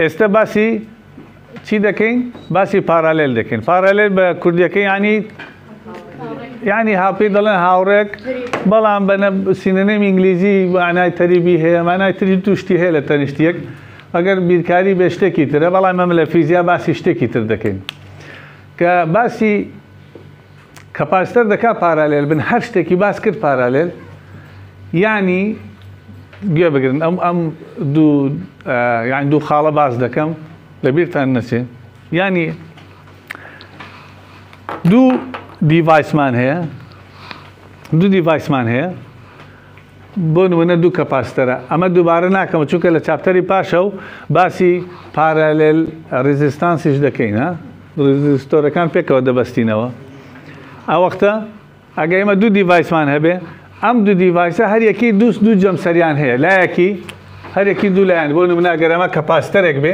ئێستە باسی چی دەکەین باسی پارالێل دەکەین پارالێل بە کوردیەکە ینی ینی هاپی دەڵێن هاوڕێک بەڵام بە سینەنێم ئینگلیزی وانای تەریبی هەیە مانای تری توشتی هەیە لە تەنیشتێک ئەگەر بیرکاری بێ شتێکی ترە بەڵام مەم لە فیزیا باسی شتێکی تر دەکەین کە باسی کەپاسیتەر دەکات پارالێل بن هەر شتێکی باس کرد پارالێل یانی گوێ بگرن ئەم ئەم دوو یان دوو خاڵە باس دەکەم لە بیرتان نەچێ ینی دوو دیڤایسمان هەیە دوو دیڤایسمان هەیە بۆ نموونە دوو کەپاسیتەرە، ئەمە دووبارە ناکەمەوە چونکە لە چاپتەری پاشە و باسی پارالێل ڕیزیستانسیش دەکەین ها ڕیزیستۆرەکان پێکەوە دەبەستینەوە ئەوەختە ئەگەر ئێمە دوو دیڤایسمان هەبێ ئەم دوو دیڤایسە هەر یەکی دووست دوو جەمسەریان هەیە لایەکی هەرێکی دوو لایەن بۆ نموناگەرەمە کەپاسیتەرێک بێ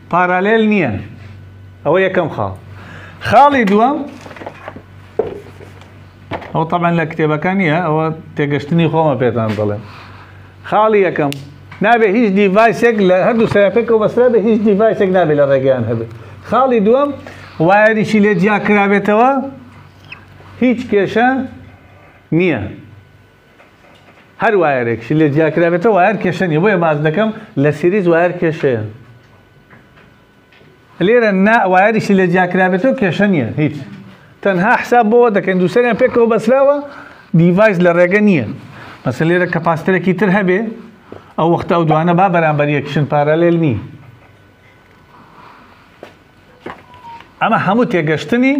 پارالێل نییە ئەوە یەکەم خاڵ خاڵی دووەم ئەو تەمان لە کتێبەکە نییە ئەوە تێگەشتنی خۆمە پێتان دەڵێم خاڵی یەکەم نابێ هیچ دیڤایسێک لە هەردوو سەرپێکەوە بەسرا بە هیچ دیڤایسێک نابێت لە ڕێگەیان هەبێت خاڵی دووەم وایەریشی لێ جیاکرابێتەوە هیچ کێشە نییە هەر وایەرێکشی لێ جیا کرابێتە وایەر کێشە نیە بۆیە باز دەکەم لە سیریز وایەر کێشەیە لێرە نا وایەریشی لێ جیا کرابێتەوە کێشە نیە هیچ تەنها حساب بۆەوە دەکەین دووسەریان پێکەوە بەسراوە دیڤایس لە ڕێگە نییە مەسە لێرە کە پاستەرێکی تر هەبێ ئەو وەختە ئەو دوانە با بەرامبەر یەکشن پارالێل نی ئەمە هەموو تێگەشتنی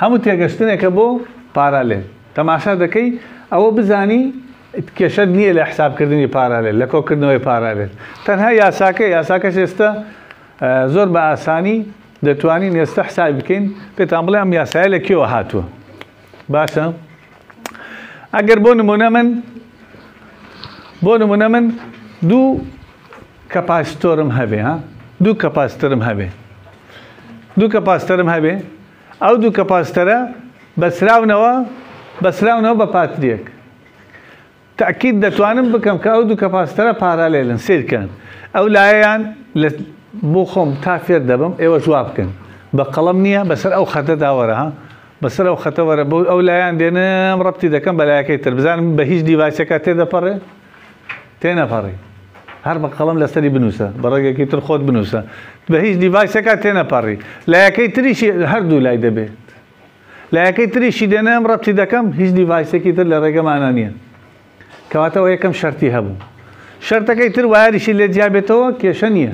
هەموو تێگەشتنێکە بۆ پارالێل تەماشا دەکەی ئەوە بزانی کێشەت نییە لە حسابکردنی پارالێل لە کۆکردنەوەی پارالێل تەنها یاساکە یاساکە شێستە زۆر بە ئاسانی دەتوانین ئێستا حساب بکەین پێتان بڵێ ئەم یاسایە لە کێوە هاتووە باشە ئەگەر بۆ نمونە من بۆ نمونە من دوو کەپاسیتۆرم هەبێ ها دوو کەپاسیترم هەبێ دوو کەپاسیتەرم هەبێ ئەو دوو کەپاسیتەرە بەسراونەوە بەسراونەوە بە پاتریەک تاکیت دەتوانم بکەم کە ئەو دوو کەپاسیتەرە پارالێلن سیرکەن ئەو لایەیان بۆ خۆم تا فێر دەبم ئێوە جواب بکەن بە قەڵم نییە بەسەر ئەو خەتە داوەرە ها بەسەر ئەو خەتەوەرە بۆ ئەو لایەن دێنم ڕەتی دەکەم بە لایەکەی تر بزانم بە هیچ دیڤایسەکە تێدەپەڕێ تێنەپەڕی هەر بە قەڵەم لەسەری بنووسە بە ڕێگەکی تر خۆت بنووسە بە هیچ دیڤایسێکا تێنەپەڕی لایەکەی تریشی هەردوو لای دەبێت لایەکەی تریشی دێنێم ڕەتی دەکەم هیچ دیڤایسێکی تر لە ڕێگەمانە نییە کەواتەوە یەکەم شەرتی هەبوو شەرتەکەی تر وایریشی لێ جیابێتەوە کێشە نییە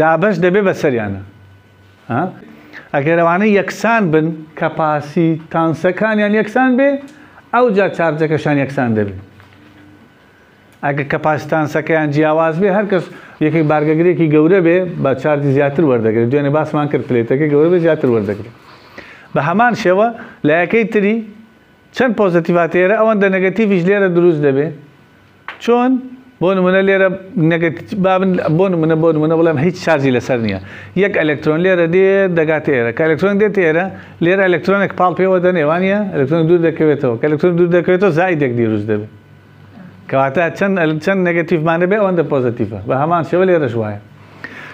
دابەش دەبێ بەسەریانا ها ئەگەر ئەوانە یەکسان بن کە پاسی تانسەکانیان یەکسان بێ ئەو جا چارجەکەشان یەکسان دەبێت ئەگە کە پاسیتانسەکەیان جیاواز بێ هەرکەس یەکێک بارگەگرێکی گەورە بێ بە چارجی زیاتر وەردەگرێت دوێنێ باسمان کرد پلێتەکە گەورە بێ زیاتر وەردەگرێت بە هەمان شێوە لایەکەی تری چەند پۆزتیڤاتێرە ئەوەندە نەگەتیڤش لێرە دروست دەبێت چۆن؟ بۆ نمونە لێرە نەگەت بابن بۆ نمونە بۆ نمونە بڵێم هیچ شارجی لەسەر نییە یەک ئەلکترۆن لێرە دێ دەگات ئێرە کە ئەلکترۆن دێت ئێرە لێرە ئەلکترۆنێک پاڵ پێوە دەنێوانە ئەلکترۆن دوور دەکەوێتەوە کە ئەلکترۆن دوور دەکەوێتەوە زایدێک دیروست دەبێت کەواتە چەند چەند نەگەتیفمانە بێ ئەوەندە پۆزتیفە بە هەمان شێوە لێرەش وایە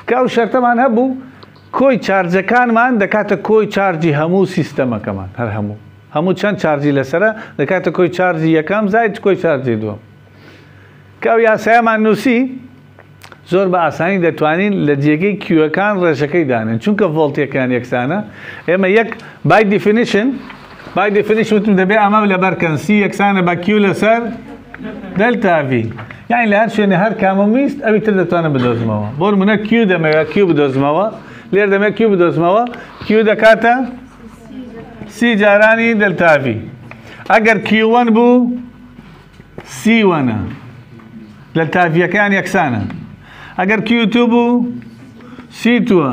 کە ئەو شەرتەمان هەبوو کۆی چارجەکانمان دەکاتە کۆی چارجی هەموو سیستەمەکەمان، هەر هەموو، هەموو چەند چارجی لەسەرە، دەکاتە کۆی چارجی یەکەم زائید کۆی چارجی دووەم. کە ئەو یاسایەمان نووسی، زۆر بە ئاسانی دەتوانین لە جێگەی کیوەکان ڕێژەکەی دانێن، چونکە ڤۆڵتێکیان یەکسانە، ئێمە یەک، By definition، By definition وتم دەبێ ئەمە لەبەر کەن سی یەکسانە بە کیو لەسەر دلتا ڤی یعنی لە هەر شوێنە هەر کامم ویست ئەوی تر دەتوانم بدۆزمەوە بۆ منە کیو دەمەوێت کیو بدۆزمەوە لێر دەمێت کیو بدۆزمەوە کیو دەکاتە سی جارانی دلتا ڤی ئەگەر کیوەن بوو سیوەنە لە تاڤیەکان یەکسانە ئەگەر کیوتوب و سیتووە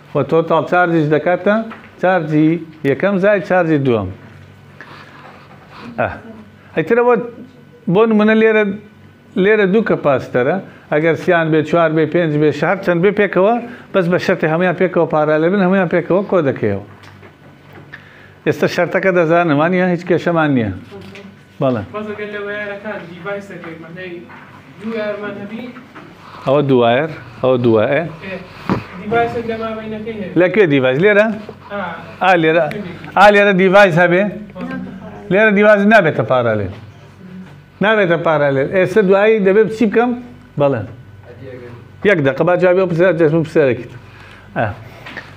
وە تۆتاڵ چارجیش دەکاتە چارجی یەکەم زای چارجی دووەم ئەیترەوە بۆ نمونە لێرە لێرە دوو کە پاستەرە ئەگەر سیان بێ چوار بێ پێنج بێ شار چەند بێ پێکەوە بەس بە شەرتی هەموان پێکەوە پارالێ بن هەموان پێکەوە کۆ دەکەیەوە ئێستا شەرتەکە دەزانمانە هیچ کێشەمان نییە بەڵێ. بەس گەر لە وەیارەکان دیڤایس دەکەی مەعنەی دوو وەیارمان هەبی. ئەوە دوو وایەر ئەوە دوو وایە. دیڤایسێک لە مابەینەکەی هەیە. لە کوێ دیڤایس لێرە؟ ئا لێرە ئا لێرە دیڤایس هەبێ لێرە دیڤایس نابێتە پارالێل نابێتە پارالێل ئێستا دوایی دەبێت چی بکەم بەڵێ یەک دەقە با جوابی ئەو پرسیارە جەژن پرسیارێکیت ئا